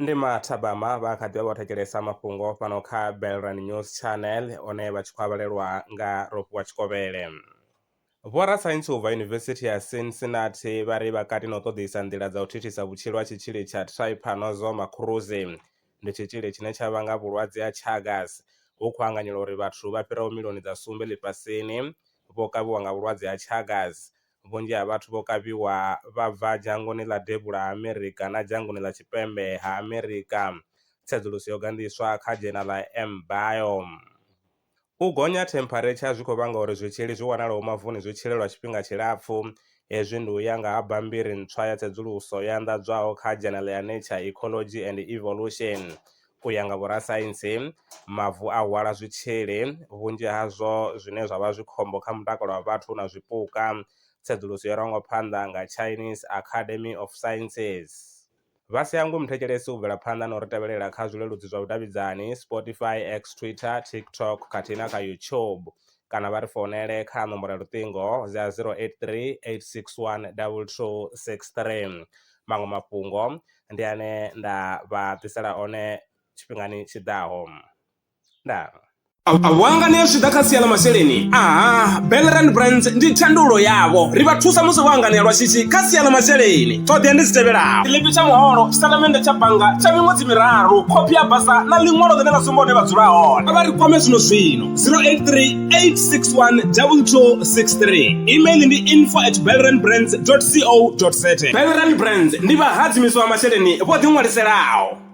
ndi mathabama vha kha ḓivha vho thetshelesa mafhungo fhano kha belran news channel one vha tshi khou avhalelwa nga rofhiwa tshikovhele vhorasaintsi u bva yunivesithi ya cincinnati vha ri vhakati na u ṱoḓisa nḓila dza u thithisa vhutshilo ha tshitzhili tsha trypanosoma cruzi ndi tshitzhili tshine tsha vhanga vhulwadze ha Chagas ho khou anganyelwa uri vhathu vha fhiraho miḽioni dza sumbe ḽifhasini vho kavhiwa nga vhulwadze ha Chagas. Vhunzhi ha vhathu vho kavhiwa vha bva dzhangoni ḽa Devhula ha Amerika na dzhangoni ḽa Tshipembe ha Amerika, tsedzuluso yo gandiswa kha dzhenala MBiome. U gonya ha thempharetsha zwi khou vhanga uri zwitzhili zwi wanalaho mavuni zwi tshile lwa tshifhinga tshilapfu. Hezwi ndi u ya nga ha bammbiri ntswa ya tsedzuluso yo anḓadzwaho kha dzhenele ya Nature, Ecology and Evolution. U ya nga vhorasaintsi, mavu a hwala zwitzhili, vhunzhi hazwo zwine zwa vha zwi khombo kha mutakalo wa vhathu na zwipuka. Tsedzuluso yo rangwa phanḓa nga Chinese Academy of Sciences. Vha si hangwe muthetshelesi u bvela phanḓa na u ri tevhelela kha zwileludzi zwa vhudavhidzani, Spotify, X, Twitter, TikTok khathihi na kha YouTube. Kana vha ri founele kha nomboro ya luṱingo dza 083 861 2263. Maṅwe mafhungo ndi ane nda vha ḓisela one tshifhingani tshi ḓaho. ndaa Vhuanga ni ya zwi ḓa kha sia ḽa masheleni aha Belrand Brands ndi thandulo yavho ri vha thusa musi vho anganea lwa shishi kha sia ḽa masheleni ṱhoḓea ndi dzi tevhelaho tshiḽipi tsha muholo tshitatamennde tsha bannga tsha miṅwedzi miraru khophi ya basa na ḽiṅwalo ḽine ḽa sumba hune vha dzula hone vha ri kwame zwino zwino 083 861 2263 email ndi info at belrandbrands co za Belrand Brands ndi vhahadzimiswa vha masheleni vho ḓiṅwaliselaho